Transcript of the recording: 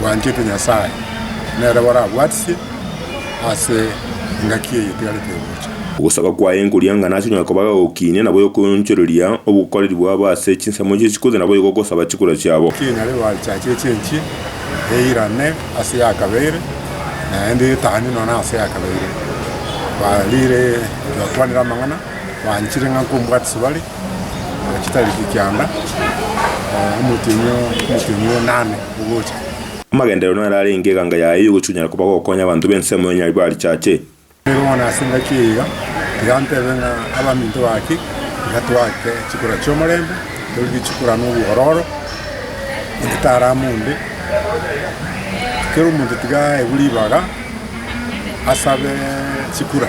bwanchete Nyasae, nere barabwatisie ase engaki eye etigarete gocha. Ogosaba kwaye nkoriang'ana ase onye koba gagokiinia, naboigo koonchoreria obokoreri bwabo ase chinsemo chie chikuri, naboigo ogosaba chikura chiabo. Kinyare bachache chenchie, eirane ase yakabeire, naende etani nonya ase yakabeire. Barire yokwanire amang'ana, banchire ng'a nkombwatisi bare, chitareti kianda, omotienyi o, omotienyi o nane ogocha. Amagenderero naro arenge eganga yaye y'ogochunyera koba gokonya abanto b'ensemo ya Nyaribari barichache. Nigo bono ase engaki eyio tiga ntebe ng'a abaminto bake tiga twake chikura chi'omorembe, torigie chikura n'obwororo, onde tarama onde. Kera omonto tiga aegwe ribaga asabe chikura.